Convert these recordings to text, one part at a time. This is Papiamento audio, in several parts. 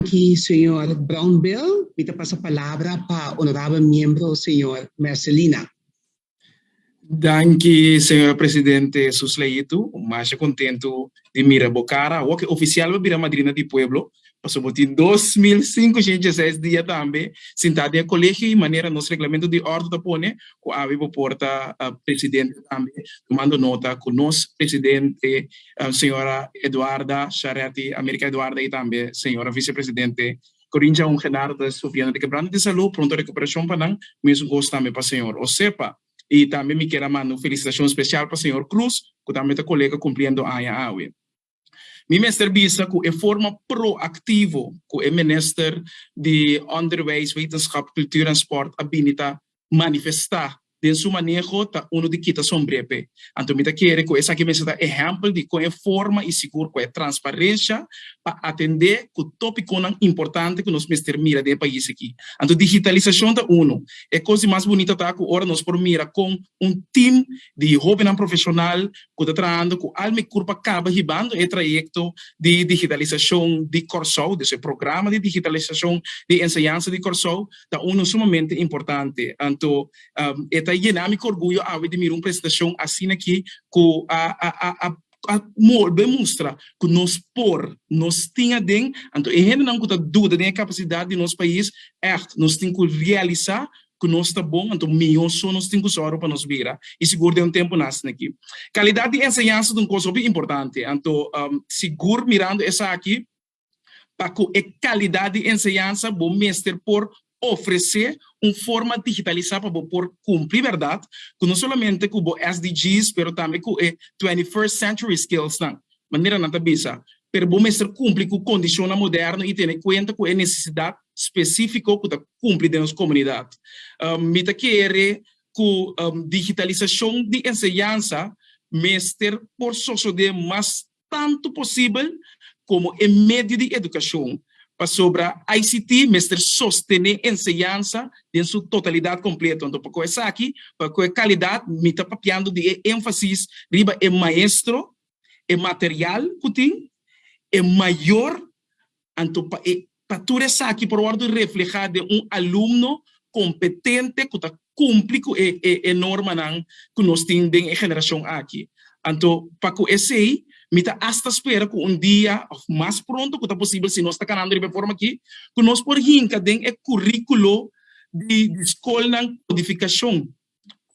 Aki señor Brownbill. Mi ta pasa palabra pa honorabel miembro señor Mercelina. Danki señora presidente su sleitu. Masha kontentu di mira bo kara awo ke ofisial bo bira madrina di pueblo paso bo tin dos mil sinkushent dieseis dia tambe sintá den e kolegio i manera nos reglamento di ordo ta pone ku abi bo por ta presidente tambe tumando nota ku nos presidente señora Eduarda Shareti America Eduarda y tambe señora vicepresidente Corincha un Gedardo estou pidiendo di kebranta di salud pronto recuperacion pa nan mesun cos tambe pa señor Osepa y tambe mi kier a manda un felicitacion special pa señor Cruz cu tambe ta colega cumpliendo aña awe. Mi mester bisa cu e forma proactivo cu e Minister di Onderwijs, Wetenschap, Cultuur en Sport a bini ta manifestá den su maneho ta unu di kita sombri'é p'e. Anto mi ta kere ku esaki mester ta ehèmpel di kon e forma i sigur ku e transparensha pa atendé ku topikunan importante ku nos mester mira den e pais aki. Anto digitalisashon ta unu. E kos di mas bunita ta ku ora nos por mira kon un tim di hóbennan profeshonal ku ta trahando ku al mikur pa kaba hibando e trayekto di digitalisashon di Kòrsou, dus e programa di digitalisashon di enseñansa di Kòrsou, ta unu sumamente importante. Anto e ta yena mi ku orguyo awe di mira un presentashon asina aki ku a a bolbe mustra ku nos por, nos tin aden. Anto e hendenan ku ta duda den e kapasidat di nos pais, ègt nos tin ku realisá ku nos ta bon, anto mihó so nos tin ku sòru pa nos bira i sigur den un tempunan asin'aki. Kalidat di enseñansa ta un kos hopi importante, anto sigur mirando esaki, pa cu e calidad di enseñansa bo mester por ofrece un forma digitalisa pa bo por cumpli berdad cu no solamente cu bo SDGs pero tambe cu e Twenty First Century Skills nan, manera nan ta bisa, pero bo mester cumpli cu condicionnan moderno y tene cuenta cu e necesidad specifico cu ta cumpli den nos comunidad. Mi ta kere cu digitalisacion di enseñansa mester por sosode mas tantu posibel komo e medio di edukashon, pasobra ICT mester sostené enseñansa den su totalidat kompleto. Anto pa kua esaki, pa kua kalidat, mi ta papiando di e énfasis riba e maestro, e material ku tin, e mayor Anto pa e ta tur esaki por wòrdu reflehá den un alumno kompetente ku ta kumpli ku e e normanan ku nos tin den e generashon aki. Anto pa ku esei mi ta asta spera ku un dia òf mas pronto ku ta posibel si nos ta kanando riba e forma akí ku nos por hinka den e kuríkulo di skolnan kodifikashon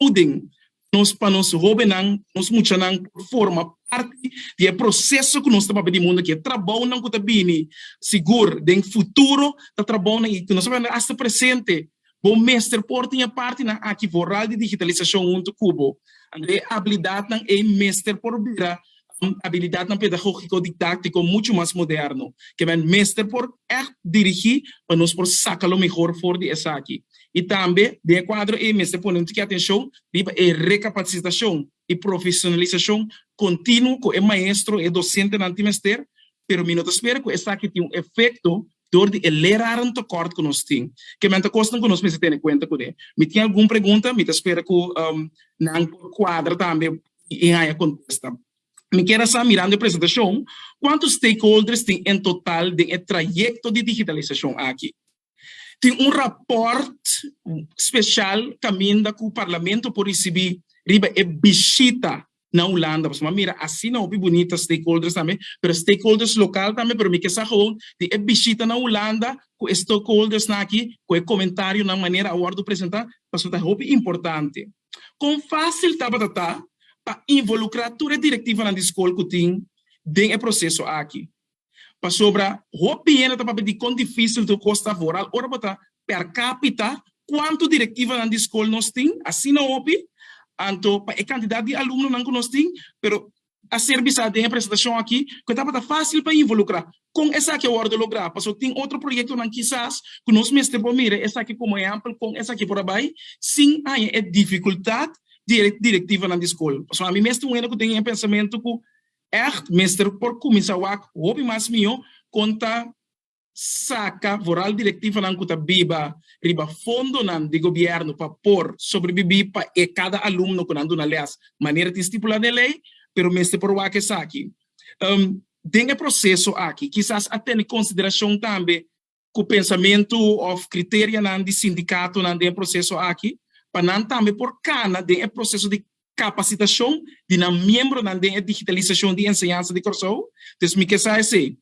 Houding nos pa nos hobennan, nos muchanan por forma parti di e proseso ku nos ta papia di mundu aki. E trabounan ku ta bini sigur den futuro ta trabounan i ku nos ta papia asta presente. Bo mester por tin e partinan aki voral di digitalisashon huntu ku bo. Anto e abilidatnan ei mester por bira habilidatnan pedagógiko-didáktiko muchu mas moderno. Ke men mester por ègt dirigí pa nos por saka lo mihor for di esaki. I tambe den e kuadro ei mester pone un tiki atenshon riba e rekapatsitashon i profeshonalisashon kontinuo ku e maestro, e dosentenan tin mester, pero mi no ta spera ku esaki tin un efekto dor di e lerarentekort ku nos tin. Ke men ta kosnan ku nos mester tene kuenta kuné. Mi tin algun pregunta, mi ta spera ku nan por kuadra tambe tin e haña kontesta. Mi kier a sa, mirando e presentashon, kuantu stakeholders tin en total den e trayekto di digitalisashon aki? Tin un rapòrt speshal kaminda ku Parlamento por risibí riba e bishita na Hulanda? Pasobra mi a mira asina hopi bunita stakeholders tambe, pero stakeholders lokal tambe, pero mi ke sa gewoon di e bishita na Hulanda ku e stokeholdersnan aki ku e komentarionan manera a wòrdu presentá, pasobra ta hopi importante. Kon fásil tabata ta pa involukrá tur e direktivanan di skol ku tin den e proseso aki? Pasobra hopi hende ta papia di kon difísil tur kos ta for al ora bo ta per kápita kuantu direktivanan di skol nos tin, asina hopi, anto pa e kantidat di alumnonan ku nos tin, pero A ser bisa den e presentashon aki ku e tabata fásil pa involukrá. Kon esaki a wòrdu lográ? Pasobra tin otro proyektonan kisas ku nos mester por mira esaki komo ehèmpel kon esaki por a bai sin haña e difikultat di e direktivanan di skol. Pasobra ami mes tin un hende ku tin e pensamentu ku ègt mester por kuminsá wak hopi mas mihó kon ta. Saca vooral directivanan cu ta biba riba fondonan di gobierno pa por sobrebibi pa e cada alumno cu nan duna les manera tin stipula den ley, pero mester por waak esaki. Den e proceso aki kisas a tene consideracion tambe cu pensamento of criterianan di sindicatonan den e proceso aki pa nan tambe por cana den e proceso di capacitacion di nan miembronan den e digitalisacion di enseñansa di Corsou. Dus mi ke sa esei.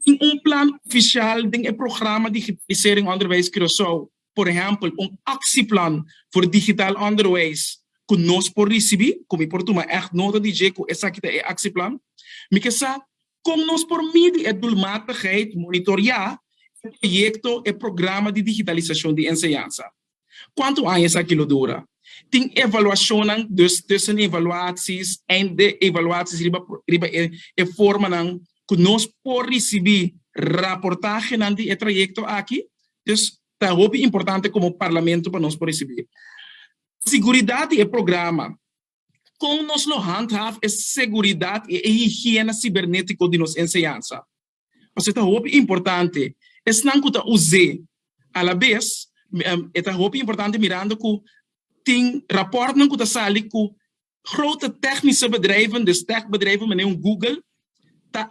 Tin un plan oficial den e programa Digitalisering Onderwijs Curaçao, por ehempel un actieplan for digital onderwijs cu nos por ricibi, cu mi por tuma echt nota di dje cu esaki ta e actieplan. Mi ke sa con nos por midi e doelmatigheid, monitorea e proyecto, e programa di digitalisacion di enseñansa. Kuantu aña esaki lo dura? Tin evaluashonnan, dus tussenevaluaties, eindevaluaties riba e formanan ku nos por risibí raportahenan di e trayekto aki. Dus ta hopi importante komo Parlamento pa nos por risibí e. Siguridat di e programa, kon nos lo handhaaf e seguridat i e higiena sibernétiko di nos enseñansa? pasobra e ta hopi importante. Esnan ku ta us'é alabes e ta hopi importante mirando ku tin rapòrtnan ku ta sali ku grote tèknische bedrijven, dus tèk bedrijven manera un Google ta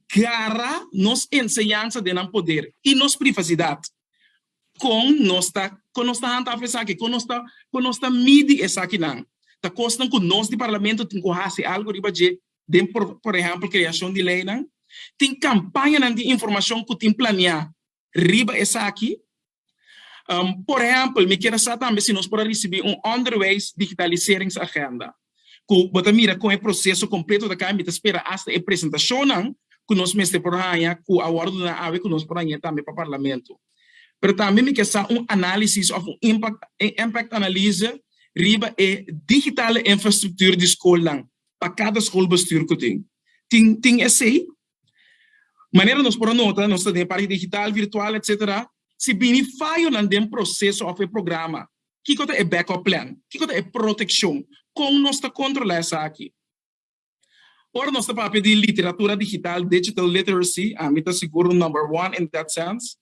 gara nos enseñansa den nan poder i nos privasidat. Kon nos ta kon nos ta hantafel esaki? Kon nos ta kon nos ta midi esakinan? Ta kosnan ku nos di Parlamento tin ku hasi algu riba dje den por por ehempel creacion di leynan, tin campañanan di informacion cu tin planea riba esaki. Um, por ehempel, mi kier a sa tambe si nos por a ricibi un onderwijs digitaliseringsagenda, cu bo ta mira con e proceso completo ta caya, mi ta spera hasta e presentacionnan cu nos mester por haya cu a wordo duna awe cu nos por haya tambe pa parlamento. Pero tambe mi kier sa un analisis of un impact, e impact analyse riba e digitale infrastructuur di schoolnan pa kada skolbestuur ku tin. Tin tin esei manera nos por a nota, nos ta den e parti digital, virtual, etc. Si bini fayonan den proseso òf e programa, kiko ta e backup plan? Kiko ta e protekshon? Kon nos ta kontrolá esaki? Ora nos ta papia di literatura digital, digital literacy, ami ta sigur number one in that sense.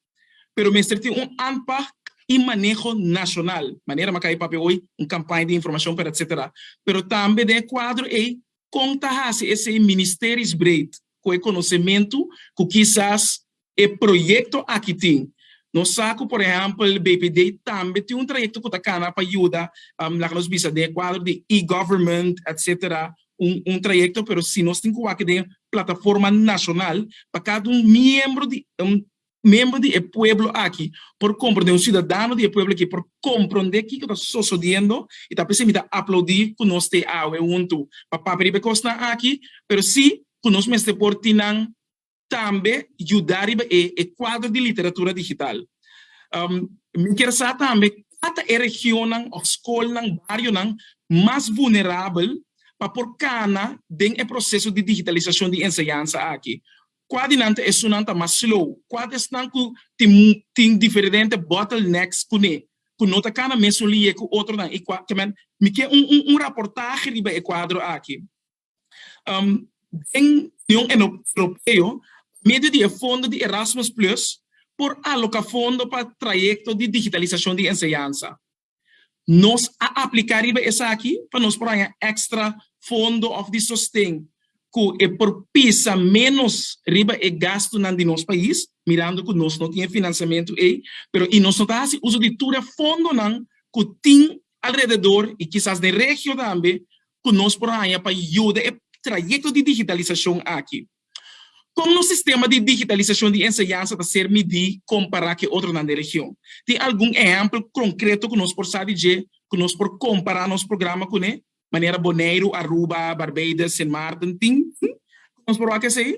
pero mester tin un aanpak i maneho nashonal, manera maka e papia hoy, un kampaña di informashon per etsetera, pero tambe den e kuadro ei kon ta hasi esei ministeris breed ku e konosementu ku kisas e proyekto aki tin. Nos sa ku por ehèmpel BPD tambe tin un trayekto ku ta kana pa yuda, laga nos bisa den e kuadro di e-government etsetera, un trayecto pero si nos tin cu wak den plataforma nacional pa cada un miembro di miembro di e pueblo aki por comprende un ciudadano di e pueblo aki por comprende kico ta sosodiendo y ta p'esei mi ta aplaudi cu nos t'e awe hunto pa papia riba e cosnan aki pero si cu nos mester por tin nan tambe yuda riba e e kuadro di literatura digital. Mi kier sa tambe kua ta e regionnan of skolnan, barionan mas vulnerabel pa por kana den e proseso di digitalisashon di enseñansa aki? Kua di nan ta esunnan ta mas slow? Kua ta esnan ku tin tin diferente bottlenecks kuné ku no ta kana mesun liye ku otronan i kua ta men? Mi kier un un un raportahe riba e kuadro aki. Den Union Europeo, pa medio di e fondo di Erasmus Plus, por aloka fondo pa trayekto di digitalisashon di enseñansa. Nos a apliká riba esaki pa nos por haña èkstra fondo òf di sosten ku e por pisa ménos riba e gastunan di nos pais, mirando ku nos no tin e finansiamentu ei, pero i nos no ta hasi uso di tur e fondonan ku tin alrededor i kisas den regio tambe cu nos por haña pa yuda e trayecto di digitalisacion aki? Con nos sistema di digitalisacion di enseñansa ta ser midi compara cu e otronan den region? Tin algun ehempel concreto cu nos por sa di dje cu nos por compara nos programa cune? Manera Boneiru, Aruba, Barbados, Sint Maarten tin cu nos por wak esey?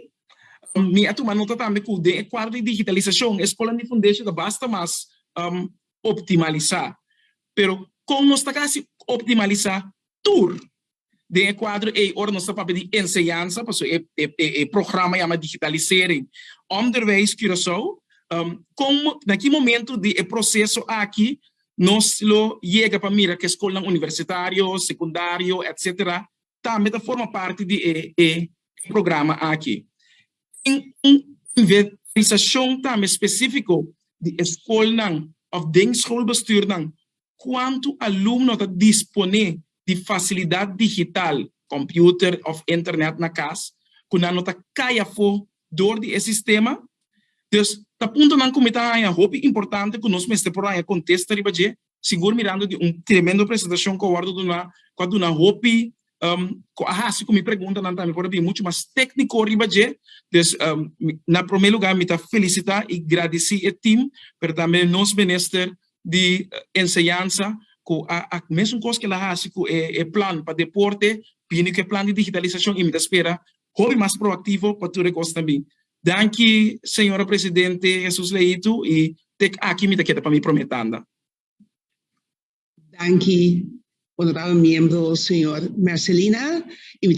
Mi a tuma nota tambe cu den e cuadro di digitalisacion e scola di fundeshi ta basta mas optimaliza. Pero kon nos ta ka hasi optimalisá tur den e kuadro ei ora nos ta papia di enseñansa pasobra e e programa yama Digitalisering Onderwijs Curaçao? Kon na ki momentu di e proseso aki nos lo yega pa mira ku e skolnan universitario, sekundario, etsetera tambe ta forma parti di e e programa aki? tin un inventorisashon tambe spesífiko di e skolnan òf den skolbestuurnan kuantu alumno ta disponé di fasilidat digital, kòmpiuter òf internet na kas, ku nan no ta kai afó dor di e sistema. Dus ta puntonan ku mi ta haña hopi importante ku nos mester por haña kontesta riba dje. sigur mirando di un tremendo presentacion cu a wordo duna, cu a duna hopi, cu a haci cu mi preguntanan tambe por a bin mucho mas tecnico riba dje. Dus, na prome lugar mi ta felicita y gradici e team, pero tambe nos Minister di Enseñansa cu a mesun cos cu el a haci cu e plan pa deporte, bini cu e plan di digitalisacion y mi ta spera hopi mas proactivo pa tur e cos ta bin. Danki Señora Presidente Jesus Leitu y tek aki mi ta keda pa mi prome tanda. Danki Honorabel Miembro Señor Mercelina y mi ta.